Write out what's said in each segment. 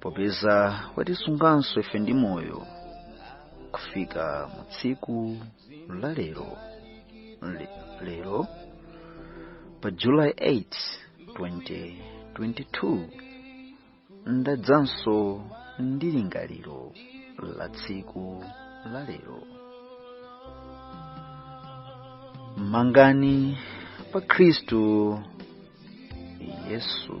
popeza watisunganso ife ndi moyo kufika mu tsiku la lero Le, lero pa july 8 2022 ndadzanso ndi lingaliro la tsiku la lero mangani pa khristu yesu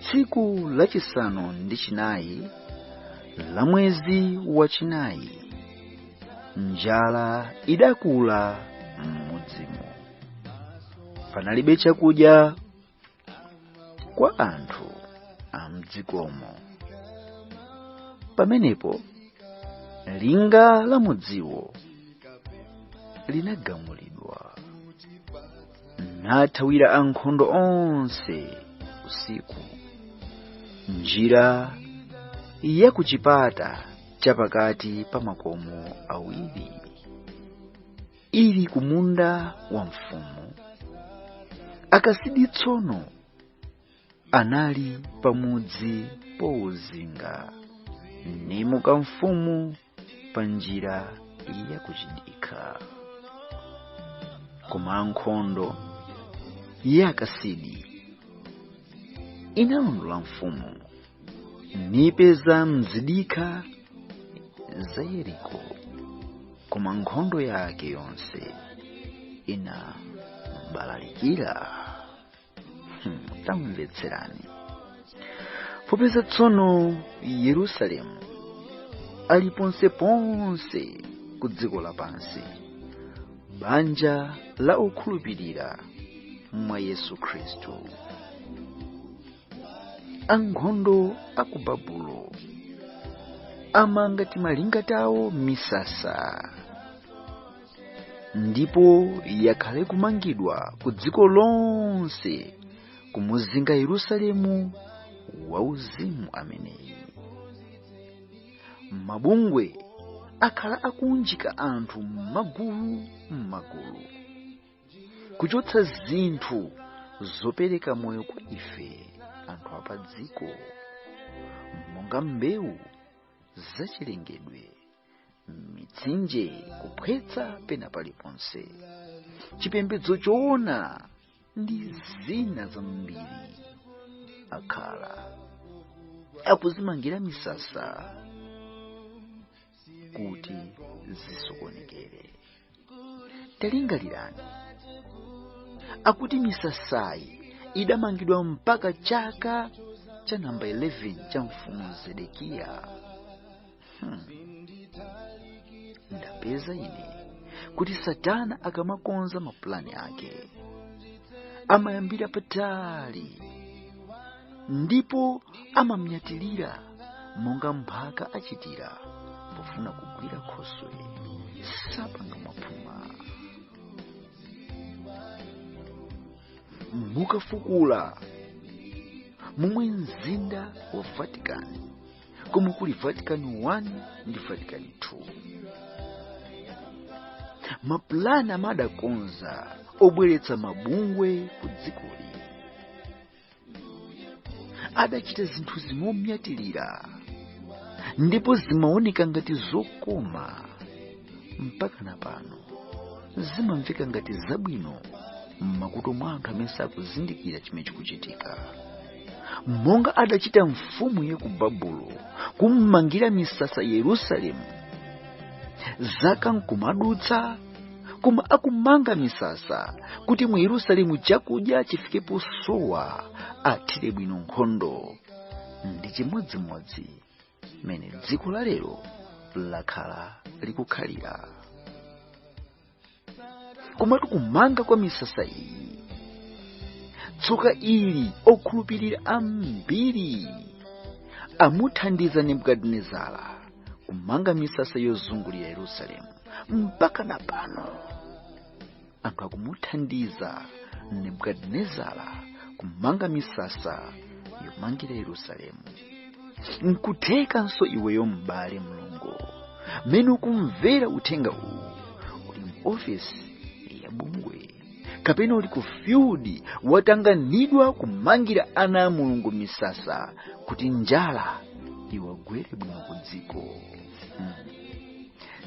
tsiku lachisanu ndi chinayi la mwezi wachinayi njala idakula m'mudzimo panalibe chakudya kwa anthu amdzikomo pamenepo linga la mudziwo linagamulidwa nathawira ankhondo onse usiku njira ya ku chipata cha pakati pa makomo awiri ili ku munda wa mfumu akasidi tsono anali pamudzi pouzinga nimuka mfumu pa njira yakuchidikha koma ankhondo ya akasidi inalondola mfumu nipeza m'zidikha za yeriko koma nkhondo yake yonse inambalalikira tamvetserani popeza tsono yerusalemu ali ponseponse ku dziko lapansi banja la okhulupirira mwa yesu khristu ankhondo a ku babulo amanga timalinga tawo misasa ndipo yakhala ikumangidwa ku dziko lonse kumuzinga yerusalemu wauzimu ameneyi mabungwe akhala akuunjika anthu m'magulu m'magulu kuchotsa zinthu zopereka moyo kwa ife anthu apa dziko monga mbewu zachilengedwe mitsinje kuphwetsa pena paliponse chipembedzo choona ndi zina zambiri akhala akudzimangira misasa kuti zisokonekere talingalirani akuti misasayi idamangidwa mpaka chaka cha namba 11 cha mfumu zedekiya hmm. ndapeza ine kuti satana akamakonza mapulani ake amayambira patali ndipo amamnyatilira monga mphaka achitira pofuna kugwira khoswe sapanga mwaphuma mukafukula momwe mzinda wa vatican komwe kuli vatican 1 ndi vatican 2 mapulani amene adakonza obweretsa mabungwe ku dzikoli adachita zinthu momnyatirira ndipo zimaoneka ngati zokoma mpaka na pano zimamveka ngati zabwino m'makutu mwa anthu amene sakuzindikira chimene chikuchitika monga adachita mfumu ya ku babulo kummangira misasa yerusalemu zaka nkumadutsa koma akumanga misasa kuti mu yerusalemu chakudya chifike posowa athire bwino nkhondo ndi chimodzimodzi mmene dziko la lero lakhala likukhalira koma tu kumanga kwa misasa iyi tsoka ili okhulupirira ambiri amuthandiza nebukadinezara kumanga misasa yozungulira yerusalemu mpaka na pano anthu akumuthandiza nebukadinezara kumanga misasa yomangira yerusalemu nkuthekanso iweyo m'bale mlongo mmene ukumvera uthenga uwu uli mu ofesi ya bungwe kapena uli ku field watanganidwa kumangira ana a mulungu misasa kuti njala iwagwere bwino ku dziko mm.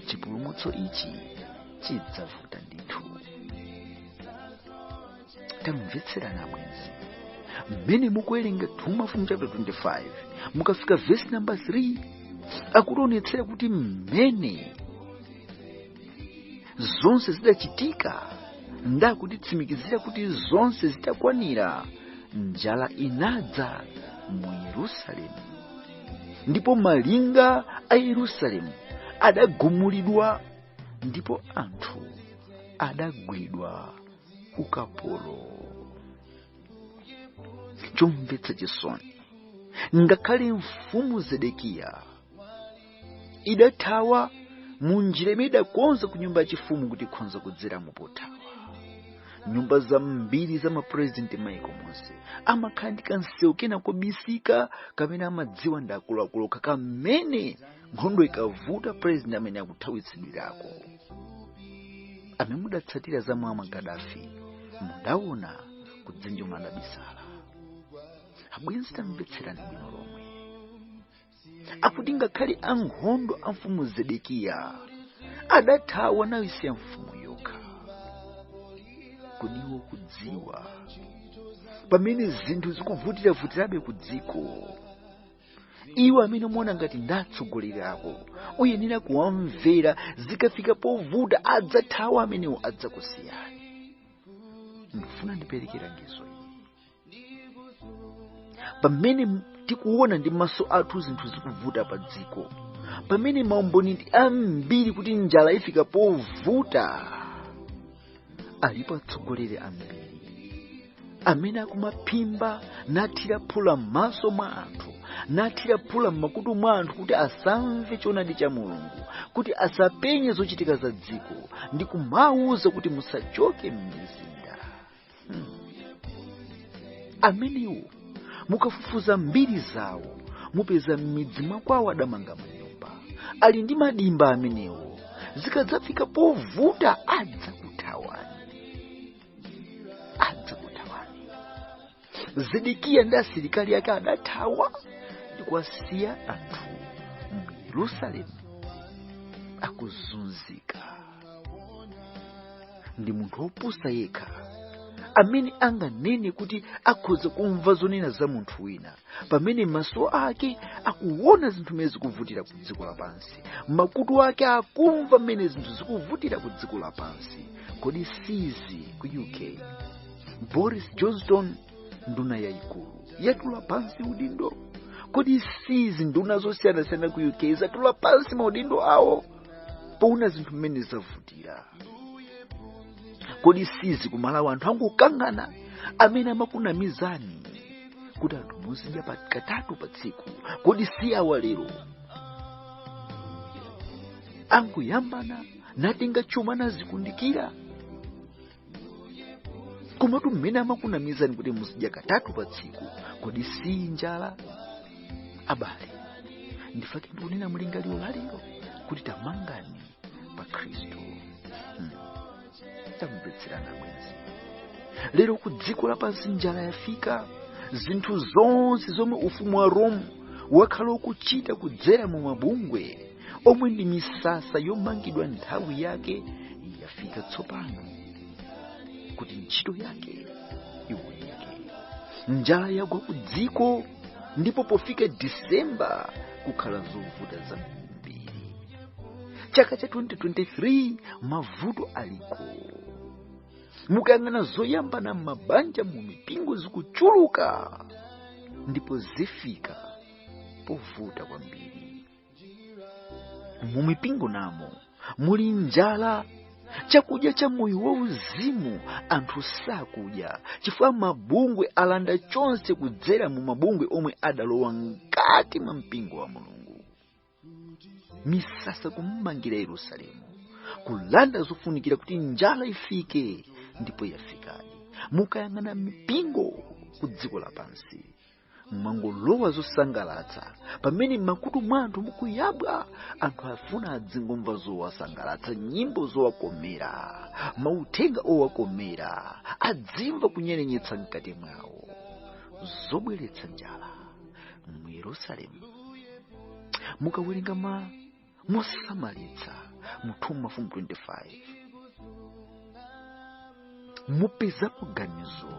chipulumutso ichi chidzavuta ndithu tamvetserana bwenzi mmene mukuwerenga 2 mafumu chapter 25 mukafika vesi namba 3 akutionetsera kuti mmene zonse zidachitika nakutitsimikizira kuti zonse zitakwanira njala inadza mu yerusalemu ndipo malinga a yerusalemu adagumulidwa ndipo anthu adagwidwa ukapolo chomvetsa chisoni ngakhale mfumu zedekiya idathawa mu njira imene idakonza ku nyumba yachifumu kuti ikhonza kudzera mu pothawa nyumba zambiri za mapurezidenti maiko monse amakhala ndi kansewu kena kobisika kamene amadziwa ndi akuluakulu okha kamene nkhondo ikavuta purezidenti amene akuthawitsidwirako amene mudatsatira za Muammar Gaddafi mudaona kudzenje komwe adabisala abwenzi tamvetserani bwino lomwe akuti ngakhale ankhondo a mfumu zedekiya adathawa naisiya mfumu yokha kodi ukudziwa pamene zinthu zikuvutiravutirabe ku dziko iwo amene muona ngati ndatsogoleri ako uyenera kuwamvera zikafika povuta adzathawa amenewo adzakusiyani ndifuna ndipereke langizo pamene tikuona ndi maso athu zinthu zikuvuta pa dziko pamene maumboni ndi ambiri kuti njala ifika povuta alipo atsogoleri ambiri amene akumaphimba nathira phula m'maso mwa anthu nathira phula m'makutu mwa anthu kuti asamve choonadi cha mulungu kuti asapenye zochitika za dziko ndi kumawauza kuti musachoke m'mizinda amenewo mukafufuza mbiri zawo mupeza m'midzi mwakwawo adamanga manyumba ali ndi madimba amenewo zikadzafika povuta adzakuthawani adzakuthawani zedekiya ndi asilikali ake adathawa ndikuwasiya anthu mu yerusalemu akuzunzika ndi munthu wopusa yekha amene anganene kuti akhoza kumva zonena za munthu wina pamene maso ake akuona zinthu mmene zikuvutira ku dziko lapansi makutu ake akumva mmene zinthu zikuvutira ku dziko lapansi kodi sizi ku uk boris johnson nduna yayikulu yatula pansi udindo kodi sizi nduna zosiyanasiyana ku uk zatula pansi maudindo awo poona zinthu mmene zavutira kodi sizi kumalawi anthu angokangana amene amakunamizani kuti anthu muzidya katatu pa tsiku kodi si awa lero angoyambana natenga chuma nazikundikira komatu mmene amakunamizani kuti muzidya katatu pa tsiku kodi si njala abale n'chifukwa chake ndikunena mlingaliro lalero kuti tamangani pa khristu hmm. tamvetserani bwenzi lero ku dziko lapansi njala yafika zinthu zonse zomwe ufumu wa rome wakhala ukuchita kudzera mu mabungwe omwe ndi misasa yomangidwa nthawi yake yafika tsopano kuti ntchito yake iwoneke njala yagwa ku dziko ndipo pofika disemba kukhala zovuta zambiri chaka cha 2023 mavuto aliko mukayang'ana zoyambana m'mabanja mu mipingo zikuchuluka ndipo zifika povuta kwambiri mu mipingo namo muli njala chakudya cha moyo wauzimu anthu sakudya chifukwa mabungwe alanda chonse kudzera mu mabungwe omwe adalowa mkati mwa mpingo wa mulungu misasa kummangira yerusalemu kulanda zofunikira kuti njala ifike ndipo yafikadi mukayang'ana m'mipingo ku dziko lapansi mwangolowa zosangalatsa pamene m'makutu mwa anthu mukuyabwa anthu afuna adzingomva zowasangalatsa nyimbo zowakomera mauthenga owakomera adzimva kunyerenyesa mkati mwawo zobweretsa njala mu yerusalemu mukawerenga ma mosamalitsa mu 2 mafumu 25 mupezamo ganizo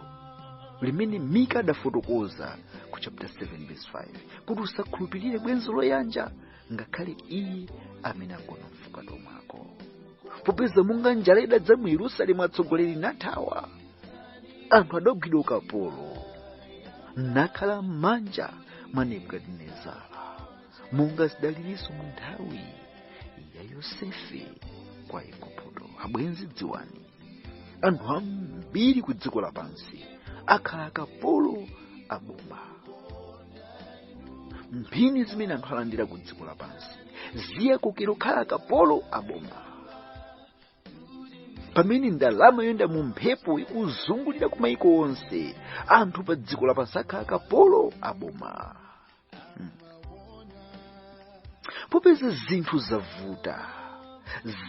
limene mika adafotokoza ku chapter 7 verse 5 kuti usakhulupirire bwenzi loyanja ngakhale iye amene agona m'fukato mwako popeza monga njala idadza mu yerusalemu atsogoleri nathawa anthu adagwidwa ukapolo nakhala m'manja mwa nebukadinezara monga zidalilinso mu nthawi ya yosefe kwa igupto abwenzi dziwani anthu ambiri ku dziko lapansi akhala akapolo a boma mphini zimene anthu alandira ku dziko lapansi ziwakokera kukhala akapolo a boma pamene ndalama yoyenda mu mphepo ikuzungulira ku maiko onse anthu pa dziko lapansi akhala akapolo a boma popeza zinthu zavuta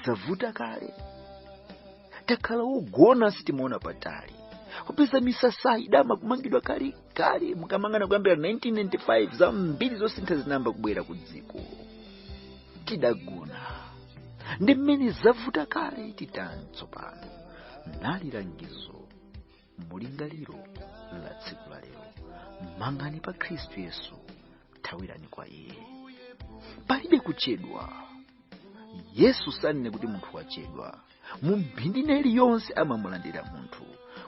zavuta kale takhala wogona sitimaona patali popeza misasa idama kumangidwa kale kale mukamangana kuyambira 1995 zambiri zosintha zinayamba kubwera ku dziko tidagona ndi mmene zavuta kale titani tsopano nali langizo mulingaliro la tsiku la lero mangani pa khristu yesu thawirani kwa iye palibe kuchedwa yesu sanene kuti munthu wachedwa mu mphindi ina iliyonse amamulandira munthu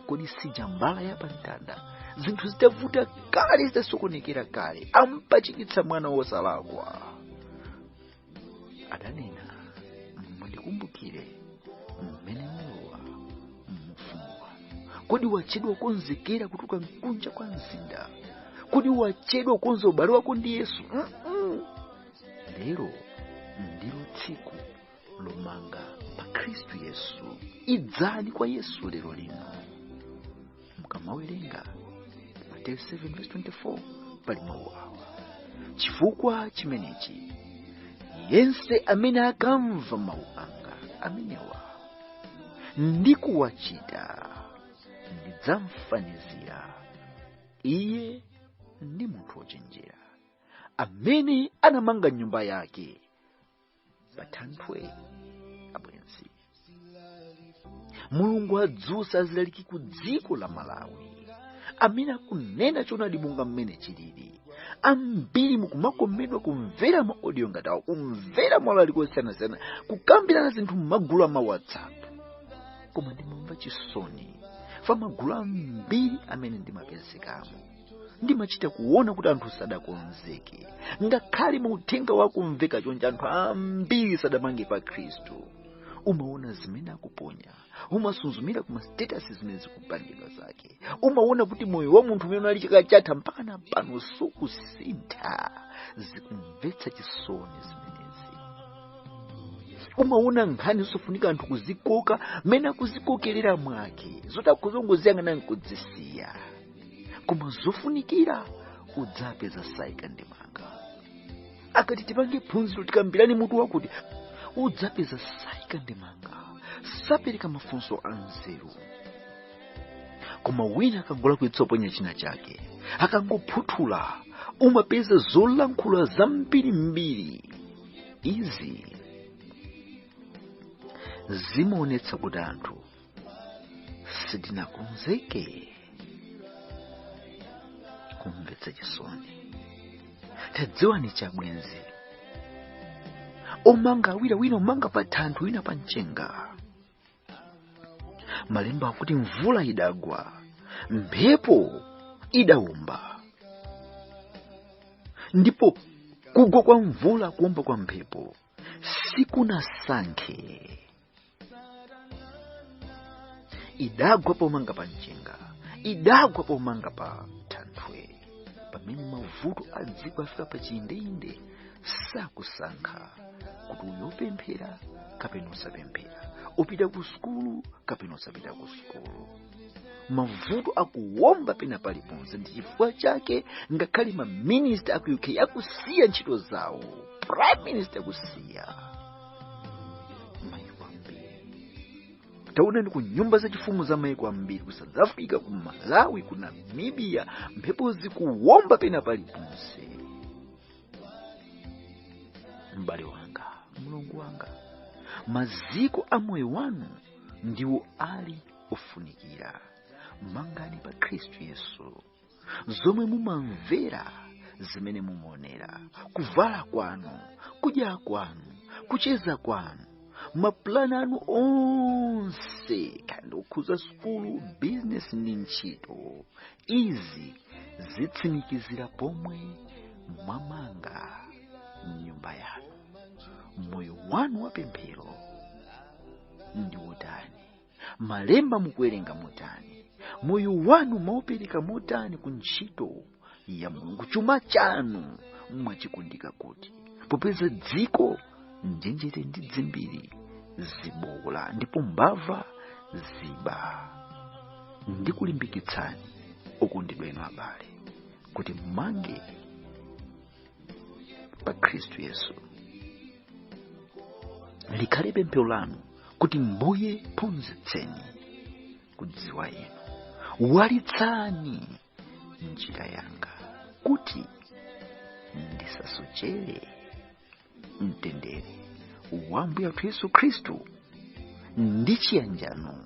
kodi si ija mbala ya pamtanda zinthu zitavuta kale zitasokonekera kale ampachikitsa mwana wosalakwa adanena mundikumbukire mmene mulowa muufumu wanu kodi wachedwa kukonzekera kutuluka mkunja kwa mzinda kodi wachedwa kukonza ubale wako ndi yesu Mm-mm. lero ndilo tsiku lomanga pa khristu yesu idzani kwa yesu lero lino mukamawerenga mateyu 7:24 pali mawu awa chifukwa chimenechi yense amene akamva mawu anga amenewa ndi kuwachita ndidzamfanizira iye ndi munthu wochenjera amene anamanga nyumba yake pathanthwe abwenzi mulungu adzutsa azilaliki ku dziko la malawi amene akunena choonadi monga mmene chilili ambiri mukumakomedwa kumvera ma audio ngati awo kumvera malaliko osiyanasiyana kukambirana zinthu m'magulu a ma whatsapp koma ndimamva chisoni pa magulu ambiri amene ndimapezekamo ndimachita kuona kuti anthu sadakonzeke ngakhale mauthenga wakumveka chonje anthu ambiri sadamange pa khristu umaona zimene akuponya umasuzumira ku ma status zimene zikupangidwa zake umaona kuti moyo wa munthu umene uli chaka chatha mpaka na pano sukusintha zikumvetsa chisoni zimenezi umaona nkhani zosafunika anthu kuzikoka mmene akuzikokerera mwake zoti akungoziyang'ana nkuzisiya koma zofunikira udzapeza saika ndemanga akati tipange phunziro tikambirane mutu wakuti udzapeza saika ndemanga sapereka mafunso a nzeru koma wina akangolakwitsa kuponya china chake akangophuthula umapeza zolankhula zambirimbiri izi zimaonetsa kuti anthu sindinakonzeke kumvetsa chisoni tadziwani chabwenzi omanga awiri wina womanga pa thanthwe wina pa mchenga malemba akuti mvula idagwa mphepo idawomba ndipo kugwa kwa mvula kuomba kwa mphepo sikunasankhe idagwa pomanga pa mchenga idagwa pomanga pa thanthwe pamene mavuto a dziko afika pa chiyindeyinde sakusankha kuti uyu opemphera kapena osapemphera opita ku sukulu kapena osapita ku sukulu mavuto akuwomba pena paliponse ndi chifukwa chake ngakhale maminista a ku uk akusiya ntchito zawo prime minister akusiya maiko ambiri taonani ku nyumba zachifumu za maiko ambiri ku south africa ku malawi ku namibia mphepo zikuwomba pena paliponse m'bale wanga mlongo wanga maziko a moyo wanu ndiwo ali ofunikira mangani pa khristu yesu zomwe mumamvera zimene mumaonera kuvala kwanu kudya kwanu kucheza kwanu mapulani anu onse kandi okhuza sukulu bizinesi ndi ntchito izi zitsimikizira pomwe mwamanga nyumba yanu moyo wanu wapemphero ndi wotani malemba mukuwerenga motani moyo wanu mwaupereka motani ku ntchito ya mulungu chuma chanu mwachikundika kuti popeza dziko njenjete ndi dzimbiri zibowola ndipo mbava ziba ndikulimbikitsani okondedwa inu abale kuti mmange pa khristu yesu likhale pemphero lanu kuti mbuye ndiphunzitseni kudziwa inu walitsani njira yanga kuti ndisasochere mtendere wa ambuye athu yesu khristu ndi chiyanjano